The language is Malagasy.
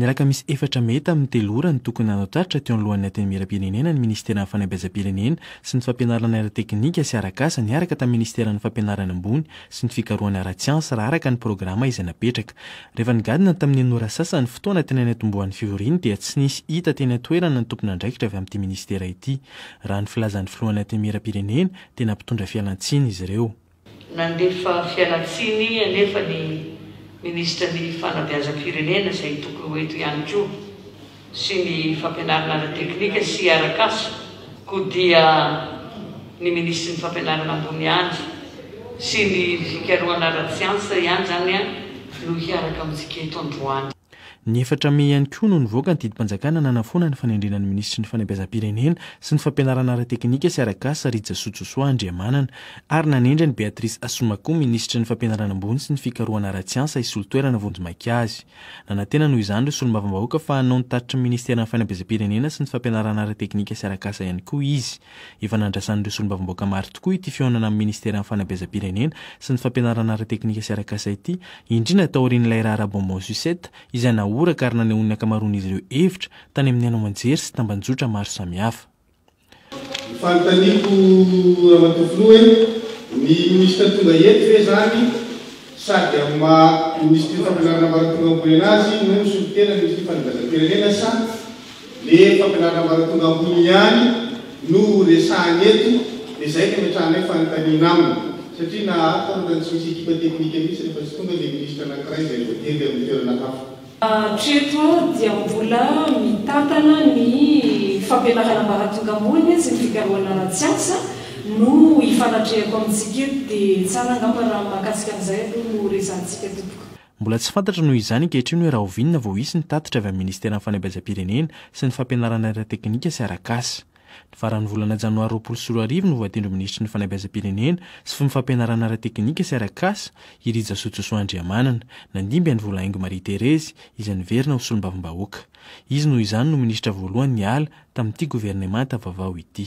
Ny raka misy efatra mey tamin'ny telo ora no tokony hanao tatitra teo alohan'ny Antenimierampirenena ny Ministeran'ny Fanabeazam-pirenena sy ny Fampianarana ara-teknika sy ara-kasa niaraka tamin'ny Ministeran'ny Fampianarana ambony sy ny Fikarohana ara-tsiansa raha araka ny programa izay napetraka. Rehefa nigadona tamin'ny enina ora sasa ny fotoana teny anaitombohan'ny fivoriany dia tsy nisy hita teny an-toerana ny tompon'andraikitra avy amin'ity Ministera ity. Raha ny filazan'ny Filohan'ny Antenimierampirenena dia nampitondra fialantsiny izy ireo. Nandefa fialan-tsiny anefa ny Minisitra ny Fanabeazam-pirenena, izay tokony ho eto ihany koa, sy ny Fampianarana ara-teknika sy arak'asa, koa dia ny Minisitry ny Fampianarana ambony ihany sy ny Fikarohana ara-tsiansa ihany izany no hiaraka amintsika eto androany. Ny efatra mey ihany koa no nivoaka ny didim-panjakana nanafoana ny fanendrena ny minisitry ny Fanabeazam-pirenena sy ny fampianarana ara-teknika sy ara-kasa Rija Sojosoa Andriamanana ary nanendry an'i Beatrice Asomakoa minisitry ny Fampianarana ambony sy ny fikarohana ara-tsiansa hisolo toerana vonjimaika azy. Nanantena noho izany ireo solombavambahoaka fa hanao ny tatitry ny ministeran'ny Fanabeazam-pirenena sy ny fampianarana ara-teknika sy ara-kasa ihany koa izy. Efa nandrasan'ireo solombavambahoaka maro tokoa ity fihaonana amin'ny Ministeran'ny Fanabeazam-pirenena sy ny Fampianarana ara-teknika sy arak'asa ity, indrindra taorian'ilay raharaha bonbon sucette izay nahoraka ary nanehoan'ny ankamaroan'izy ireo hevitra tany amin'ny haino aman-jery sy tamban-jotra maro samihafa. Ny fanontaniako Ramatoa Filoha hoe ny Minisitra tonga eto ve izany? Sady amin'ny maha Minisitry ny Fampianarana Ambaratonga Amboninahitra azy no misolo tena ny Minisitry ny Fanabeazam-pirenena sa le Fampianarana Ambaratonga Ambony ihany no ho resahana eto dia zay no ametrahanay fanontaniana aminy satria naharitra aho ohatrany tsy misy ekipa teknika mihitsy rehefa tsy tonga le Minisitra anankiray izay voatery amin'ny toerana hafa. Hatreto dia mbola mitantana ny fampianarana ambaratonga ambony sy ny fikarohana ara-tsiansa no ifanatrehako amintsika eto dia tsara angamba raha mahakasika an'izay aloha no resahantsika tompoko. Mbola tsy fantatra noho izany ankehitriny hoe rahoviana vao hisy ny tatitra avy amin'ny Ministeran'ny Fanabeazam-pirenena sy ny Fampianarana ara-teknika sy arak'asa. Ny faran'ny volana janoary roapolo sy roa arivo no voatendry ho minisitry ny Fanabeazam-pirenena sy fmfampianarana ara-teknika sy ara-kasa i Rijasojosoa Andriamanana. Nandimby an'i Volahaingo Marie Thérèse izy niverina ho solombavambahoaka. Izy noho izany no minisitra voalohany niala tamin'ity governemanta vaovao ity.